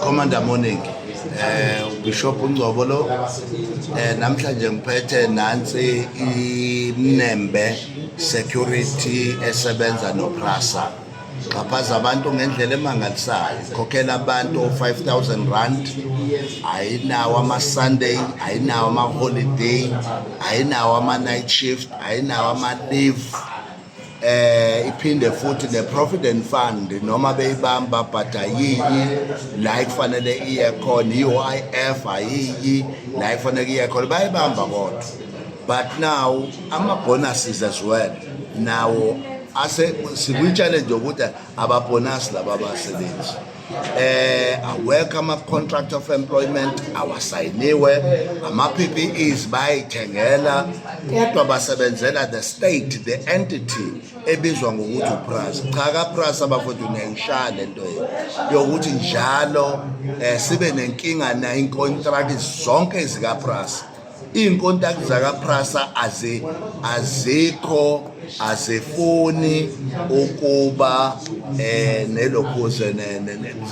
Commander Morning eh uBishop uNgcobo lo eh namhlanje ngiphethe nansi inembe security esebenza noPrasa xhaphaza abantu ngendlela emangalisayo khokhela abantu 5000 rand ayinawo ama-sunday ayinawo ama-holiday ayinawo ama-night shift ayinawo ama-leave eh iphinde futhi ne provident fund noma beyibamba but ayiyi la ifanele iye khona iUIF ayiyi la ifanele iye khona bayibamba kodwa but now ama bonuses as well nawo ase sikwi challenge ukuthi ababonus laba basebenzi eh awekho ama contract of employment awasayiniwe ama PPEs bayithengela kodwa basebenzela the state the entity ebizwa ngokuthi uPras cha ka Pras abafowethu niyayishaya lento yokuthi njalo eh sibe nenkinga na incontract zonke zika Pras iinkontaki zakaprasa azikho azifuni ukuba um eh, nelokhuze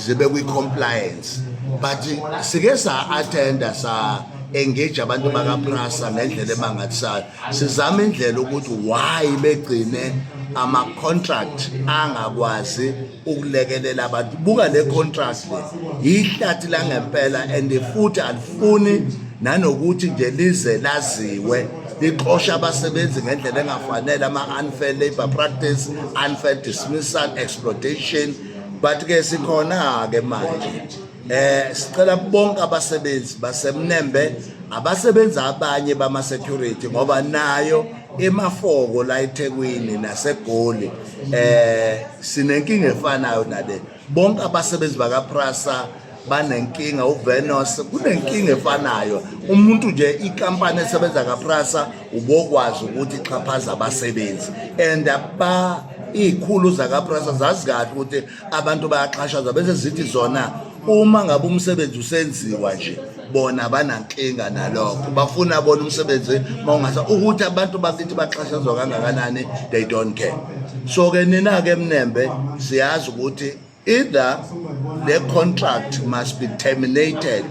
zibe kwi-compliance but sike sa-attenda sa engage abantu bakaprasa ngendlela emangalisayo sizama indlela ukuthi why begcine ama-contract angakwazi ukulekelela abantu buka le contrast le yihlathi langempela and futhi alifuni nanokuthi nje lize laziwe lixosha abasebenzi ngendlela engafanele ama-unfair labor practice unfair dismissal exploitation but-ke sikhona-ke manje Eh sicela bonke abasebenzi basemnembe abasebenza abanye bama security ngoba nayo emafoko la eThekwini naseGoli eh sinenkinga efanayo nale bonke abasebenzi baka Prasa banenkinga uVenos kunenkinga efanayo umuntu nje ikampani esebenza kaPrasa ubokwazi ukuthi ixhaphaza abasebenzi and aba izikhulu zakaPrasa zazi kahle ukuthi abantu bayaxhashazwa bese zithi zona uma ngabe umsebenzi usenziwa nje bona banankinga nalokho bafuna bona umsebenzi mawungasa ukuthi abantu bakithi baxhashazwa kangakanani they don't care so ke nina ke mnembe siyazi ukuthi either the contract must be terminated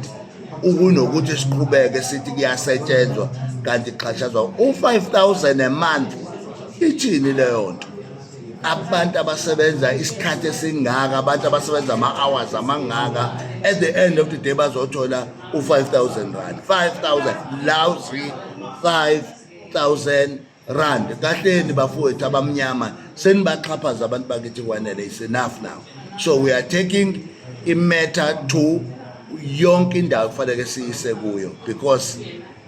ukunokuthi siqhubeke sithi kuyasetshenzwa kanti kuxhashazwa u-5000 a month ithini leyo nto abantu abasebenza isikhathi esingaka abantu abasebenza ama-hours amangaka at the end of the day bazothola u-5000 rand 5000 lousy 5000 rand kahleni bafowethu abamnyama senibaxhaphaza abantu bakithi kwanele is enough now so we are taking imatter to yonke indawo kufanele siyise kuyo because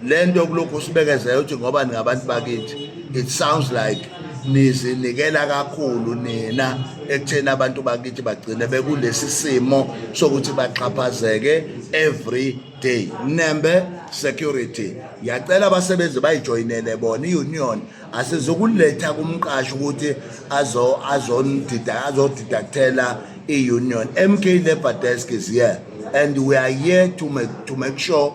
lento kulokhu usibekezela uthi ngoba ningabantu bakithi it sounds like nizinikela kakhulu nina ekutheni abantu bakithi bagcine bekulesi simo sokuthi baxhaphazeke every day nembe security yacela abasebenzi bayijoyinele bona i-union asizukuletha kumqashi ukuthi azodidakthela i-union mk labor desk is here and we are here to make, to make sure